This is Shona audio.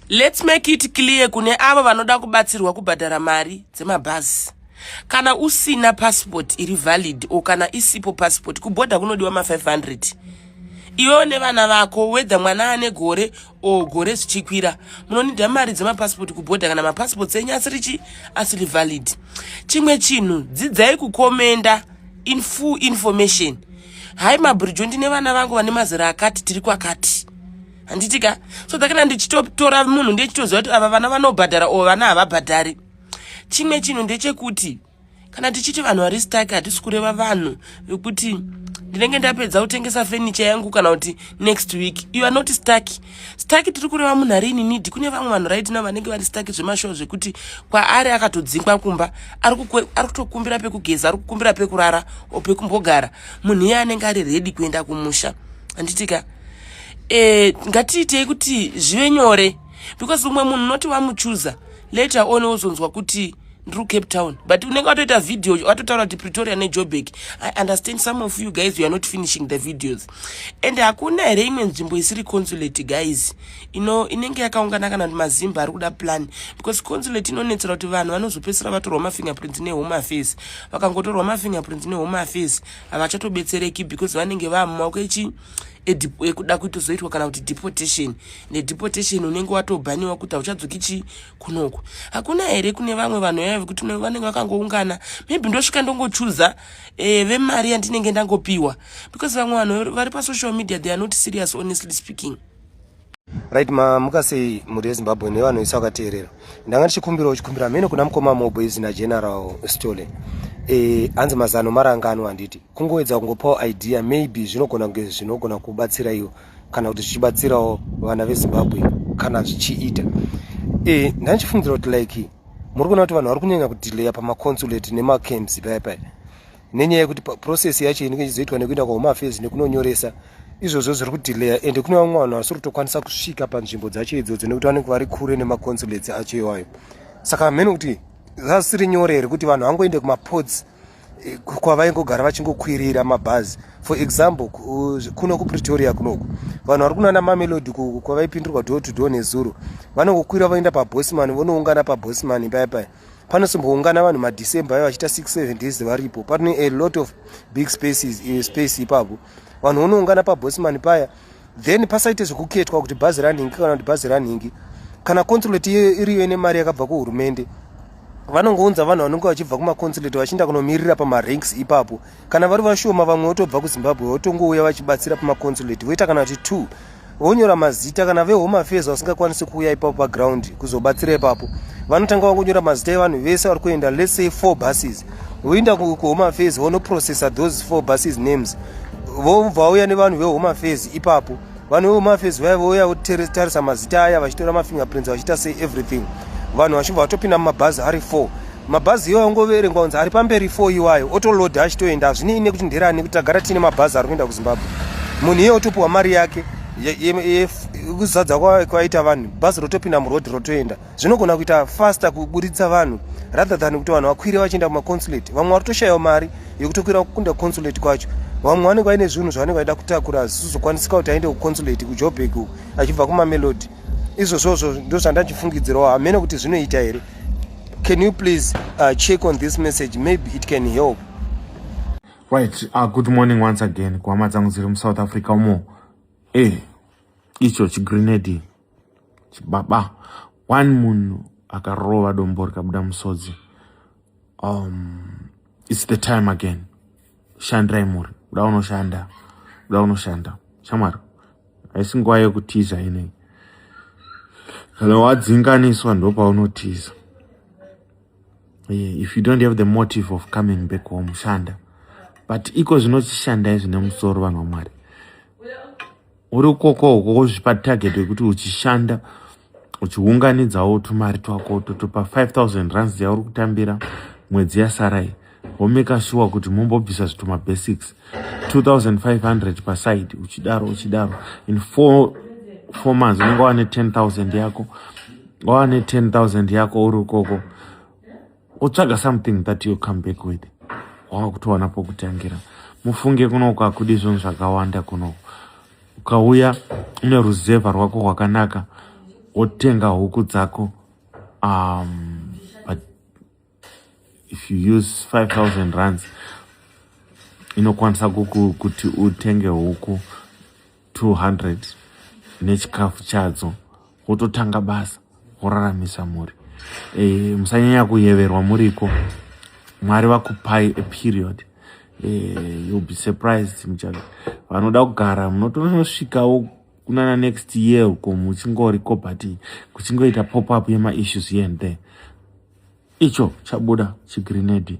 Let's make it clear kune avo vanoda kubatsirwa kubhadhara mari dzemabhazi. Kana usina passport iri valid or kana isipo passport kuborder kunodiwa ma 500. Iwewe nevana vako whether mwana ane gore or gore zvichikwira munonida mari dzemapasipoti kuborder kana mapasipoti enyu asiri chi asiri valid. Chimwe chinhu dzidzai kukomenda in full information. Hai mabridge ndine vana vangu vane mazera akati tiri kwakati. handiti ka so that kana ndichitotora munhu ndechitoziva kuti ava vana vanobhadhara or vana havabhadhari chimwe chinhu ndechekuti kana tichiti vanhu vari stak hatisi kureva vanhu vekuti ndinenge ndapedza kutengesa fenicha yangu kana kuti next week you are not stak stak tiri kureva munhu ari ininidi kune vamwe vanhu raitina vanenge vari stak zvemashow zvekuti kwaari akatodzingwa kumba ari kutokumbira pekugeza ari kukumbira pekurara o pekumbogara munhu iye anenge ari redi kuenda kumusha handitika eh, ngatiitei kuti zvive nyore because umwe munhu unoti wamuchuza later on wozonzwa kuti ndiri kucape town but unenge watoita video watotaura kuti pretoria nejobek i understand some of you guys youare not finishing the videos and hakuna here imwe nzvimbo isiri consulate guys ino inenge yakaungana kana kuti mazimba ari kuda plan because consulate inonetsera kuti vanhu vanozopedzisira vatorwa mafingerprints nehome affairs vakangotorwa mafingerprints nehome affairs havachatobetsereki because vanenge vaamumaoko echi ekuda kuitozoitwa kana kuti deportation nedeportation unenge watobhaniwa kuti hauchadzoki chii kunoko hakuna here kune vamwe vanhu yaya vekuti vanenge vakangoungana maybe ndosvika ndongochuza e, vemari yandinenge ndangopiwa because vamwe vanhu vari pasocial media they are not serious honestly speaking right mamuka sei mhuri yezimbabwe nevanoisa vakateerera ndanga ndichikumbira uchikumbira mhene kuna mukoma mobho izvi nageneral stole e, hanzi mazano marangano handiti kungoedza kungopawo idea maybe zvinogona kunge zvinogona kubatsira iwo kana kuti zvichibatsirawo vana vezimbabwe kana zvichiita e, eh, ndanga ndichifungira kuti like muri kuona kuti vanhu vari kunyanya kudelayer pamaconsulate nemacamps paya paya nenyaya yekuti process yacho inenge ichizoitwa nekuenda kwahome affairs nekunonyoresa izvozvo zviri kudelayer ende kune vamwe vanhu vasiri kutokwanisa kusvika panzvimbo dzacho idzodzo nekuti vanenge vari kure nemaconsulates acho iwayo saka hamhene kuti zvasiri nyore here kuti vanhu vangoende kumaports eh, kwavaingogara vachingokwirira mabhazi for example kuno kupretoria kunoku vanhu vari kunana mamelodi kwavaipindirwa door to door nezuro vanongokwira vaenda pabosman vonoungana pabosman paya paya panosimboungana vanhu madecember ayo vachiita 67 days varipo pane a lot of big spaces eh, space ipapo vanhu vonoungana pabosman paya then pasaite zvekuketwa kuti bhazi ranhingi kana kuti bhazi ranhingi kana consulate iriyo ine mari yakabva kuhurumende vanongounza vanhu vanonge vachibva kumaconsulate vachienda kunomirira pamaranks ipapo kana vari vashoma vamwe votobva kuzimbabwe votongouya vachibatsira pamaconsulate voita kana kuti two vonyora mazita kana vehome affairs vasingakwanisi kuuya ipapo paground kuzobatsira ipapo vanotanga vangonyora mazita evanhu vese vari kuenda let's say four buses voenda kuhome affairs vonoprocessa those four buses names vobva vauya nevanhu vehome affairs ipapo vanhu vevomafes vaya vouya votarisa mazita aya vachitora mafingerprints vachiita sei everything vanhu vachibva vatopinda mumabhazi ari four mabhazi iwayo angoverengwa kunzi ari pamberi four iwayo otoloda achitoenda hazvinei nekuti nderani kuti tagara tiine mabhazi ari kuenda kuzimbabwe munhu iye otopiwa mari yake yekuzadza kwaita vanhu bhazi rotopinda muroad rotoenda zvinogona kuita faster kuburitsa vanhu rather than kuti vanhu vakwire vachienda kumaconsulate vamwe vari kutoshayiwa mari yekutokwira kukunda consulate kwacho vamwe vanenge vaine zvinhu zvavanenge vaida kutakura zvisizokwanisika kuti aende kuconsulate kujobek uku achibva kumamelodi izvozvozvo ndozvandachifungidzirawo hamene kuti zvinoita here can you please uh, check on this message maybe it can help right uh, good morning once again kuhama dzangu dziri musouth africa umo e eh, icho chigrenadi chibaba one munhu akarova dombo rikabuda musodzi um, its the time again shandirai mhuri kuda unoshanda kuda unoshanda shamwari haisi nguva yekutiza inei kana wadzinganiswa ndopaunotiza yeah, if you don't have the motive of coming back home shanda but iko zvinochishandai zvine musoro vanhu vamwari uri ukoko uko wozvipa target yekuti uchishanda uchiunganidzawo tumari twako totopa 5000 rands yauri kutambira mwedzi yasarai womeka shuwa kuti mumbobvisa zvituma basics 2500 paside uchidaro uchidaro in four, four months unenge wane 10000 yako wane 10000 yako uri ukoko otsvaga something that you come back with wava kutowana pokutangira mufunge kuno kwakudi zvinhu zvakawanda kuno ukauya une ruzevha rwako rwakanaka wotenga huku dzako um, but if you use 5000 runs inokwanisa kuti utenge huku 200 nechikafu chadzo wototanga basa woraramisa mhuri e, musanyanya kuyeverwa muriko mwari vakupai a period e, eh, you'll be surprised muchave vanoda kugara munotonosvikawo kunana next year uko muchingoriko but kuchingoita pop up yemaissues here and there icho chabuda chigrenade